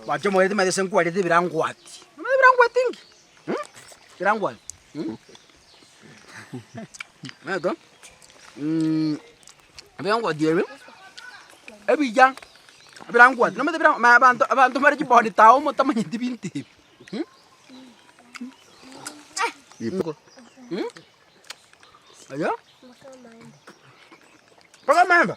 Mache moete maete senkwarete ebirangwati. Omanyete ebirangwati nki? Mh? Ebirangwati. Mh? Omanyete? Mh, ebirangwati ebi, ebiya, ebirangwati. Nomanyete ebira- ma- abanto abanto mbare chibody tao motamanyeti ebinto ebi. Mh? Mh? Mh? Aye? Mpaka amaemba?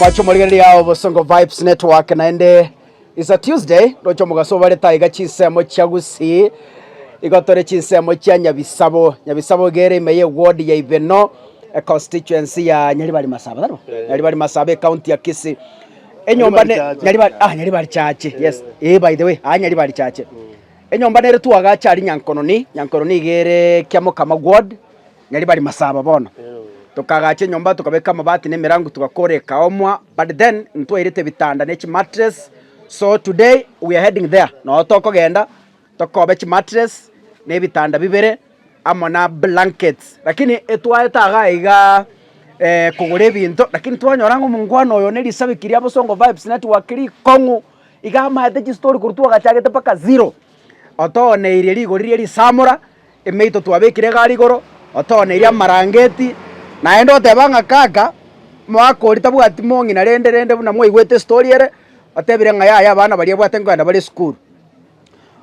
Mwache omorigereria ao Bosongo Vibes Network naende is a Tuesday roche omogaso obarete aiga chinsemo chia Gusii igo tore chinsemo chia Nyabisabo Nyabisabo iga ere ime ye ward ya Ibeno e constituency ya Nyaribari Masaba taribo Nyaribari Masaba ecounty ya Kisii enyomba ne Nyaribari Nyaribari Chache. ah Nyaribari Chache yes eh by the way ah Nyaribari Chache Enyomba nere twagache aria Nyankononi, Nyankononi nigo ere kia Mokama Ward, naria bari Masaba bono. Tokagacha enyomba tokabeka amabati na emerango togakora ekaomwa but then ntwairete ebitanda ne chimattress so today we are heading there noo tokogenda tokobe chimattress na ebitanda bibere amo na blankets lakini etwaete igaa igaa kogora ebinto lakini twanyora ng'a omongwana oyo ne risabiki ria Bosongo Vibes Network rikong'u. Iga amaete chistori korwa twagachagete mpaka zero, otooneirie rigori ria risamora, emeito twabekire igare igoro, otooneirie amarangeti, naende oteba ng'a kaka, omwaka oria tabwati mong'ina rende rende buna mwaigwete estori ere, otebire ng'a yaya abana baria ebwate nkogenda bare esukuru.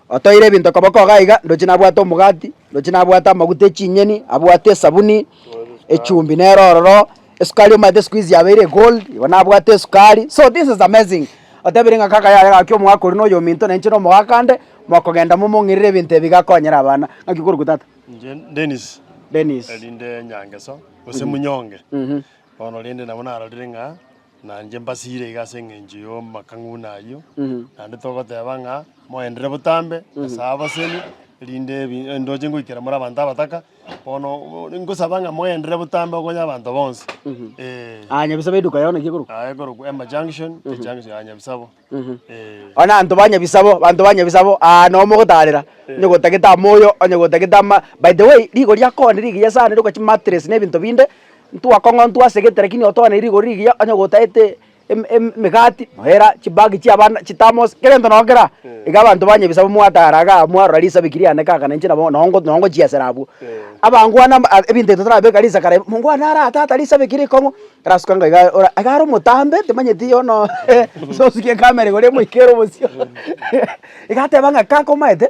Otoeire ebinto koboko igaa iga, ndochi nabwate omogati, ndochi nabwate amaguta echinyeni, abwate esabuni, echumbi nere ororo, Esukari omanyete siku hizi yabeire egold, igo nabwate esukari, so this is amazing, otebiri ng'a kaka yare gaki omogaka oria na oyominto na inche na omogaka ande, mokogenda momong'irere ebinto ebi gakonyera abana. Ng'aki korokwa tata? Inche Dennis. Dennis. Erinde Nyangeso, gose Munyonge. Bono rende nabo narorire ng'a nainche mbasire iga ase eng'encho y'amakang'una ayio, naende togoteba ng'a moenderere botambe ase abasemi, erinde ebi- ndoche ngoikera more abanto abataka. Bono ngosaba ng'a moenderere botambe okonye abanto bonsi. Eh. Ah, Nyabisabo eduka yao naki ekorokwa? Ah, ekorokwa Emma Junction, ejunction ya Nyabisabo. Eh. Ona anto ba Nyabisabo, banto ba Nyabisabo, ah, no mogotarera, onye gotagete amoyo, onye gotagete ama, by the way, rigori ya koni rigiya sana riruka chimatress na ebinto binde, ntwakong'ontwa asegete lakini otoane rigori rigiya onye gotaete. emegati, noera chibag chi'abana chitambo ase kera gento nonye kera, iga abanto banywa ebisabu mwatara iga aa mwarora risabu eki riane kaka na inche nabo nonye nonye ngochiesera abwo. Abangwana amba aa ebinto ebi totarabeka risakara iga, mongo one ara aa tata risabu eki rikong'u, erasuka ng'a iga ora iga are omotambe timanyeti yono ase osukia ekamera igoro emoikere obosio iga ateba ng'a kaka omanyete.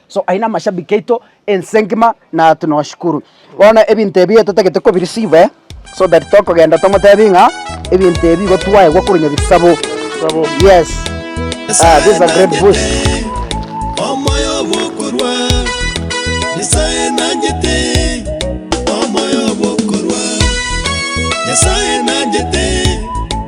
So aye namashabiki aito ense ngima na tunoshukuru. Bono ebinto ebi totagete ko bireceive so that tokogenda tomotebi ng'a ebinto ebi igo twaegwa korwa nyabisabo. Sabo. Yes. Ah, this is a great boost. omoyo bwokorwa nyasaye nanjete omoyo bwokorwa nyasaye nanjete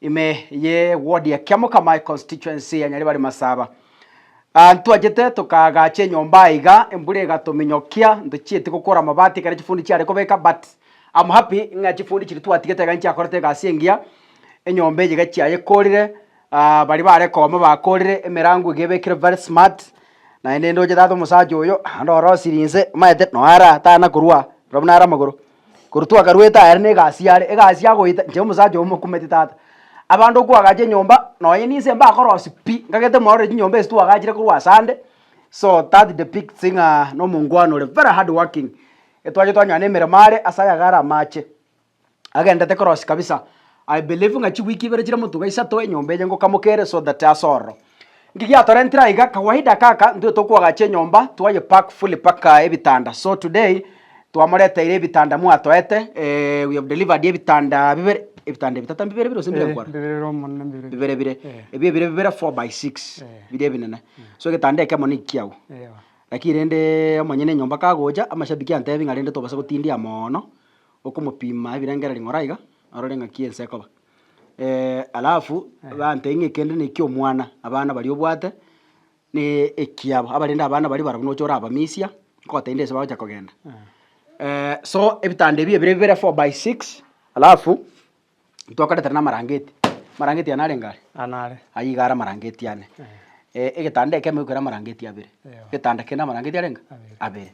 Ime ye ward ya Kiamoka my constituency ya Nyaribari Masaba. Ah, ntwachete tokaagacha enyomba aiga, embura egatominyokia, ntochieti gokora amabati ekero chifundi chiare kobeka but I'm happy ng'a chifundi chiria twatigete iga nchiakorete egasi engiya, enyomba eye iga chiayekorire, ah baria bare kooma bakorire, emerango iga ebekire very smart, naende ndoche tata omosacha oyo, naende orosirie inse, omanyete, noyo ara tana korwa aa, ora buna are amagoro. Korwa twakarwete aya rende egasi yare, egasi ya goita inche omosacha oyo mokumeti tata. Abanto kwagacha enyomba, nonye ninse mbakorosia pi, ngagete morore chinyomba echio twagachire korwa ase ande, so that depicts ng'a na omongwana ore very hard working. Etwacha twanyoana emeremo are ase ayaga are amache, agendete korosia kabisa, I believe ng'a chiweek ibere chire motuga isato enyomba eye ngokamoka ere so that ase ororo. Nki giatorentire aiga? Kawaida kaka ntwe tokoagacha enyomba twaye pack fully paka ebitanda so today twamoreteire ebitanda mwatoete we have delivered ebitanda bibere ebitanda ebitato mbibere bire gose mbire Eh, nkwane? mbirere omonene mbirere. bibere bire Eh. ebio ebire bibere four by six Eh. bire ebinene Eh. so egetanda ekemo nigo kiago Eyo. lakini rende omonyene enyomba kagocha amashabiki antebi ng'a rende tobasa gotindia mono okomopima ebirenge ring'ora iga arore ng'aki ense ekoba. Eh, alafu bante ng'a ekende neki omwana, abana baria obwate, na ekiabo, abarende abana baria barabwo nocha orabamisia, nkogotebia nde ase bagocha kogenda. Eh, so ebitanda ebi ebire bibere four by six, alafu ntwakaretera na amarangeti, amarangeti ane narenge are? Aa nare. Aywo iga are amarangeti ane. Eh, egetanda ekemo ekero amarangeti abere, Eyo. egetanda kende amarangeti arenge? Abere. Abere.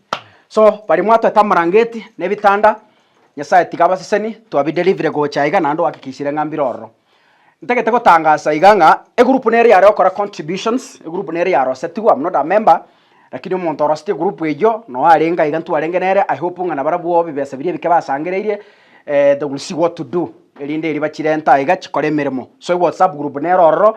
So, baria mwatoete amarangeti na ebitanda. Nyasae tiga abaseseni twabiderivire gocha iga naende oakikishire ng'a mbire ororo. Ntagete gotangasa iga ng'a egurupu nere yare gokora contributions, egurupu nere yarosetigwe am not a member, rakini omonto orosetie egurupu eyio na oarenge aiga ntwarenge nere, I hope ng'a nabarabwo bibesa biria ebike basangereirie they will see what to do, erinde eria bachirenta aiga chikore emeremo. So eWhatsApp group nere ororo,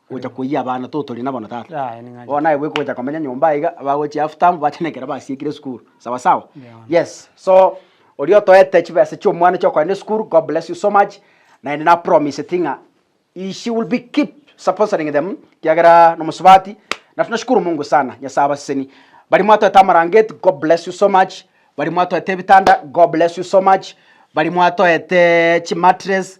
gocha koiyia abana totori nabo na tata. Yaya ning'anchete. Bono naye bweka gocha komenya nyomba aiga bagochia half term bachenekera basiekire esukuru sawa sawa Yao. yes so oria otoete chibesa chia omwana chia okogenda esukuru God bless you so much naende na promiseti ng'a he she will be keep supporting them ekiagera nomosubati na tunashukuru Mungu sana Nyasaye abasesenie baria mwatoete amarangeti God bless you so much baria mwatoete ebitanda God bless you so much baria mwatoete chimatress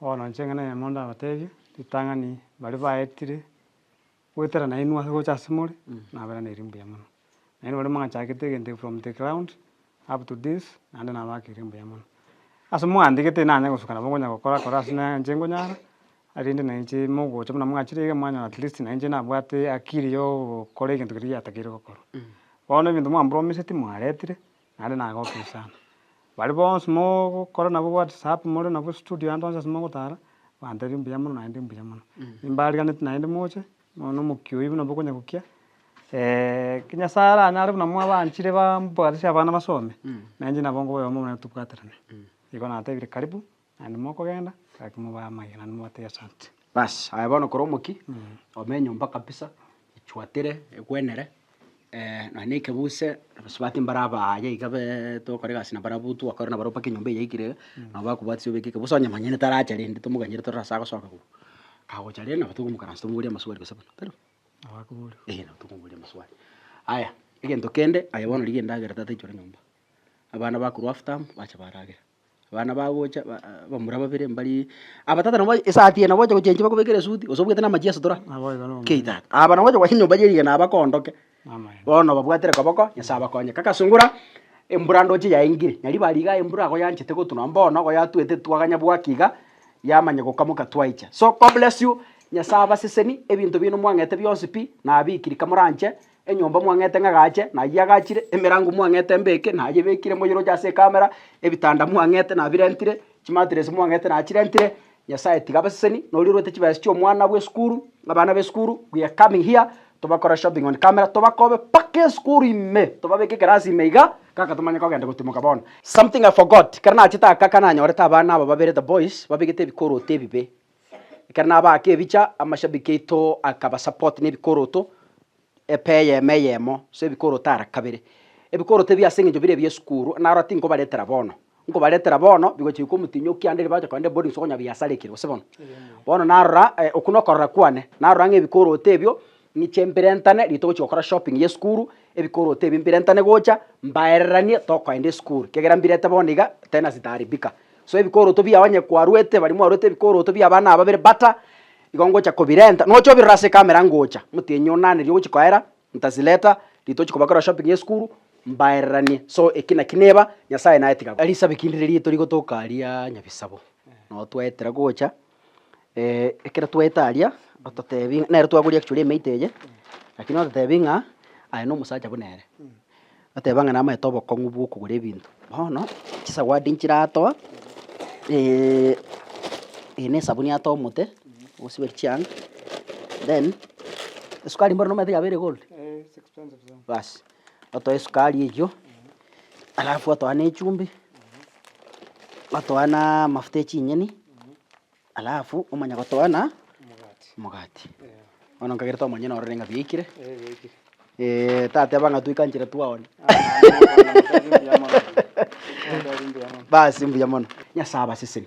Bono inche eng'ana eyemo ndabatebie, ritang'ani baria baetire goetera nainwe ase gocha ase more, nabera ne riiri mbuya mono. Nainwe baria mwachakete egento from the ground up to this, naende nabaaka riiri mbuya mono. Ase mwandike tinanye gosuka nabo nkonya gokora kora ase na inche nkonyara, erinde na inche mogocha buna mwachire iga mwanyora at least na inche nabwate akiri ya ogokora egento keria giatakeire gokorwa. Bono ebinto mwampromeseti mwaretire. Naende nagokia sana. Baria bonsi mogokora nabo whatsapp more nabo studio ande onsi ase mogotara, bantebirie mbuya mono naende mbuya mono. Mbarigeaneti naende moche, nonya na omokia oyio buna bokonya gokia, ki Nyasaye aranyare buna mwabanchire bambwatisi abana basome, nainche nabo nkoboyoma omonene tobwaterane. Igo natebirie karibu. Naende mokogenda, gaki mobae amagena naende mobate egesaanche. Basi, aye bono kore omokia, ome enyomba kabisa, echuatire, egwenere, nonya na ekebuse, abasubati mbare aba aye iga be togokora egasi nabo barabwo togokora nabo mpaka enyomba eywo yaikire iga, nabo bakobwatisa obeke ekebuse onye manyene taracha rende tomoganyere torore ase agosoka korwa. Kagocha rende nabo tokomokaransa tomoboria amaswali gose buna, tari? Nabo akoboria. Eeh nabo tokomoboria amaswali. Aya, egento kende, aye bono rigia endagera tata aichore nyomba. Abana bakorwa after bacha baragera. abana bagocha abamura babere mbari aba tata nabo ase esaati eye nabo ogocha gochenchia bakobekere esuti gose obwate namache ase tora kei tata aba nabo ogocha goacha nyomba ye rigena aba kondoke bono babwatire koba ko nyasaye abakonye kagasungura embura ndoche yaengire na ribaga riga embura agwo yanchete gotwa nonye bono igo yatwete twaganya bwaki iga yamanya gokamoka twaicha so god bless you nyasaye abaseseni ebinto biaino mwang'ete bionsi pi nabikiri kamoranche. Enyomba mwang'ete ng'a agache, nayio agachire, emerango mwang'ete mbeke, nayio ebekire, moyeroche ase ekamera, ebitanda mwang'ete nabirentire, chimatiresi mwang'ete nachirentire, Nyasaye tiga abaseseni, noria orwete chibesa chi'omwana bw'esukuru, abana b'esukuru, we are coming here, tobakore shopping on camera, tobakobe mpaka esukuru ime, tobabeke ekerasi ime iga, kaka tomanye kogenda gotimoka bono. Something I forgot, ekero nachete aka, ekero nanyorete abana aba babere, the boys, babegete ebikooti ebibe, Ekero nabaaka ebicha, amashabiki aito akabasupport na ebikoroto epa eyemo eyemo, so ebikoroto ara kabere. Ebikoroto ebi ase eng'encho bire ebi'esukuru, narora tinkobaretera bono, nkobaretera bono bigochia goika omotinyokia ande riria bagocha kogenda eboarding school konya biasarekire, gose bono. Bono narora okwo na okorora kwane, narora ng'a ebikoroto ebio ng'iche mbirentane riria togochia gokora shopping y'esukuru, ebikoroto ebi mbirentane gocha mbaereranie tokoenda esukuru, ekiagera mbirente bono iga tena zitaharibika. So ebikoroto bia onye kwarwete baria mwarwete ebikoroto bi'abana ababere bata, igo ngocha kobirenta, nocha obirore ase ecamera ngocha, motienyi one nane riria ogochia koera, ntazileta, riria tochia kobakora shopping y'esukuru, mbaereranie, so eki naki neba, Nyasaye naye tiga. Risabi kindi riria torigotoka aria nyabisabo, nabo twaetera gocha. ekero twaete aria ototebia ng'a, nere twaboria actually emeito eye, lakini ototebia ng'a aye na omosacha buna ere. Oteba ng'a namaete obokong'u bw'okogora ebinto. Bono chisawadi nchire atoa, eeh na esabuni atoa omote osiberia chianga, then esukari mbwenu nomanyete yaba ere gold? baas. otoe esukari eywo, alafu otoe ne echumbi, otoe na amafuta echinyeni, alafu omanye gotoa na omogati. Bono nkagerete omonyene orore ng'a biaikire, tateba ng'a toikanchire twaonia basi mbuya mono. Nyasae abaseseni.